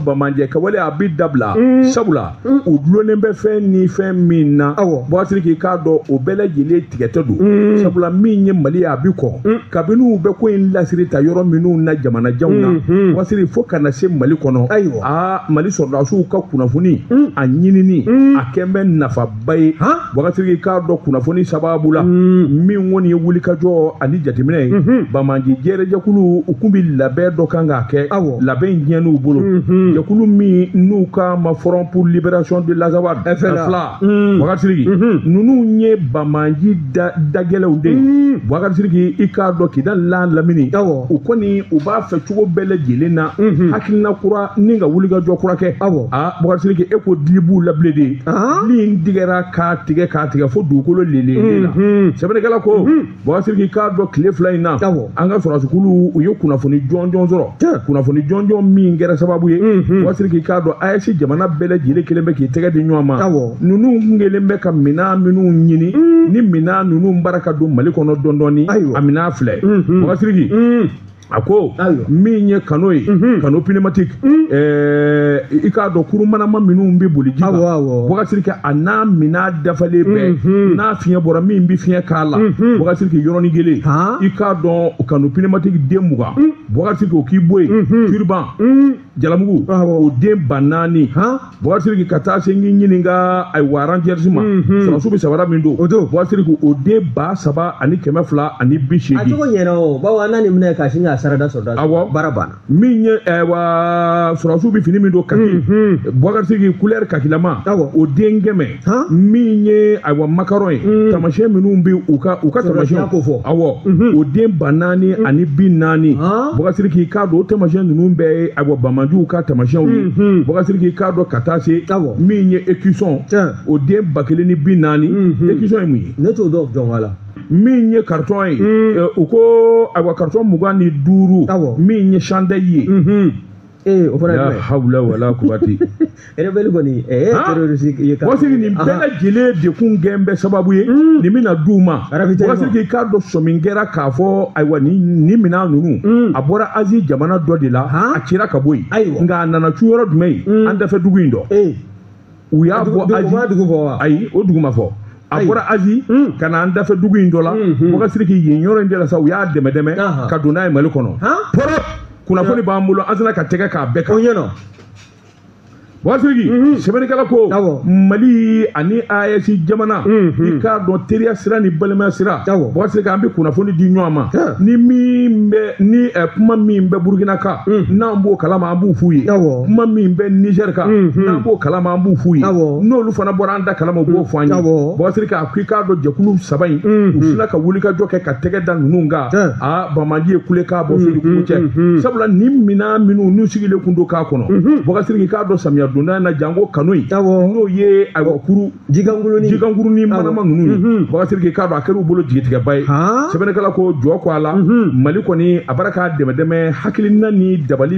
banbaanci kɛwale a bɛ dabila mm. sabula mm. o dulonnen bɛ fɛn ni fɛn min na boubacar sidiki i k'a dɔn o bɛɛ lajɛlen tigɛtɛ don mm. sabula min ye mali ye a bɛ kɔn kabini u bɛ ko in lasiri ta yɔrɔ minnu na jamanajanw na mm-hmm. boubacar sidiki fo kana se mali kɔnɔ ayiwa aa mali sɔrɔdasiw ka kunnafoni a ɲinini a kɛn bɛ nafa ba ye boubacar sidiki i k'a dɔn kunnafoni sababu la hmm. min kɔni ye wulikajɔ ani jateminɛ ye hmm. banbaanci jɛrɛjɛkulu u tun bɛ labɛn dɔ kan k'a kɛ labɛn in tiɲɛn'u bolo hmm. jɛkulu min n'u k'a ma front pour libération de l'azawad fla boubacar sidiki ninnu ye banbaanci dagɛlɛw de ye boubacar sidiki i k'a dɔn kidali lamini u kɔni u b'a fɛ cogo bɛɛ lajɛlen na hakilina kura ɲini ka wulikajɔ kura kɛ boubacar sidiki e ko dili b'u la bilen de min tigɛra k'a tigɛ k'a tigɛ fo dugukolo lele la sɛbɛnnikɛla ko boubacar sidiki i k'a dɔn tile fila in na an ka sɔrɔdasiw u ye kunnafoni jɔnjɔn sɔrɔ kunnafoni jɔnjɔn min kɛra sababu ye boubacar sidiki i k'a dɔn ayɛsi jamana bɛɛ lajɛlen kɛlen bɛ k'i tɛgɛ di ɲɔgɔn ma ninnu kun kɛlen bɛ ka minɛn minnu ɲini ni minɛn ninnu b'a la ka don mali kɔnɔ dɔɔni dɔɔni a minɛn filɛ boubacar sidiki a ko min ye canot ye canot pneumatique i k'a dɔn kurun manama minnu bɛ boli ji kan boubacar sidiki a n'a minɛn dafalen bɛɛ n'a fiɲɛ bɔra min bɛ fiɲɛ k'a la boubacar sidiki yɔrɔnin kelen i k'a dɔn canot pneumatique den mugan boubacar sidiki o k'i bɔ yen turiban jalamugu o den ba naani boubacar sidiki ka taa se n'i ɲininka ayiwa rangers ma sɔrɔdasiw bɛ sabara min don o don boubacar sidiki o den ba saba ani kɛmɛ fila ani bi seegin a cogo ɲɛna o bawo an ni minɛ ka sin ka sarada sɔrɔ awɔ baara banna min ye ayiwa sɔrɔdasiw bɛ fini min don kaki boubacar sidiki kulɛri kakilama awɔ o den kɛmɛ min ye ayiwa macaron ye mm. tamasiyɛn minnu bɛ u ka u ka tamasiyɛn kofɔ awɔ mm-hmm. o den ba naani mm. ani bi naani boubacar sidiki i k'a dɔn o tamasiyɛn ninnu bɛɛ ye ayiwa banbaanciw ka tamasiyɛnw ye mm-hmm. boubacar sidiki i k'a dɔn ka taa se min ye écusson o den ba kelen ni bi naani mm-hmm. écusson ye mun ye. ne t'o dɔn jɔn la. min ye karitɔn ye eh, u ko ayiwa karitɔn mugan ni duuru min ye chandail ye. ee o fana ye jumɛn hawula wala kuwata ye rebelle kɔni ɛɛ Han? terroriste ye boubacar sidiki nin bɛɛ lajɛlen de kun kɛn bɛ sababu ye nin bɛna di u ma Arabitɛri ma. boubacar sidiki i k'a dɔn sɔmin kɛra k'a fɔ ayiwa nin nin minɛn ninnu a bɔra azi jamana dɔ de la Han? a cira ka bɔ yen Ayiwa. nka a nana cun yɔrɔ jumɛn ye an dafɛ dugu in dɔ ee u y'a bɔ azi fɔra dugu fɔ wa ayi o dugu ma fɔ a bɔra azi hmm. ka na an dafɛ dugu in dɔ la hmm, hmm. boubacar sidiki yen yɔrɔ in de la sa u y'a dɛmɛ dɛmɛ ka don n'a ye mali kɔnɔ pɔrɔ kunnafoni b'an bolo an sera ka tɛgɛ k'a bɛɛ kan o ɲɛna boubacar sidiki mhm. sɛbɛnnikɛla ko mali ani ayɛsi jamana mhm. i k'a dɔn teriya sira ni balimaya sira boubacar sidiki an bɛ kunnafoni di ɲɔgɔn ma ni min bɛ ni eh, kuma min bɛ burukina kan n'an b'o kalama an b'u f'u ye kuma min bɛ nizɛri kan n'an b'o kalama an b'u f'u ye n'olu fana bɔra an da kalama u b'o fɔ an ye bubakar sidiki a ko i k'a dɔn jɛkulu saba in u sina ka wulikajɔ kɛ ka tɛgɛ da ninnu kan a bamaji ye kule k'a bɔ fili kulu cɛ sabula ni minan minnu n'u sigilen kun don k'a kɔnɔ bubakar sidiki i k'a dɔn samiya donda in na janko kanu in n'o ye ayiwa kuru jikankuruni jikankuruni manama ninnu bubakar sidiki i k'a dɔn a kɛr'u bolo jigitigɛba ye sɛbɛnnikɛla ko jɔ ko a la mali kɔni a b'a ra k'a dɛmɛ dɛmɛ hakilina ni dabali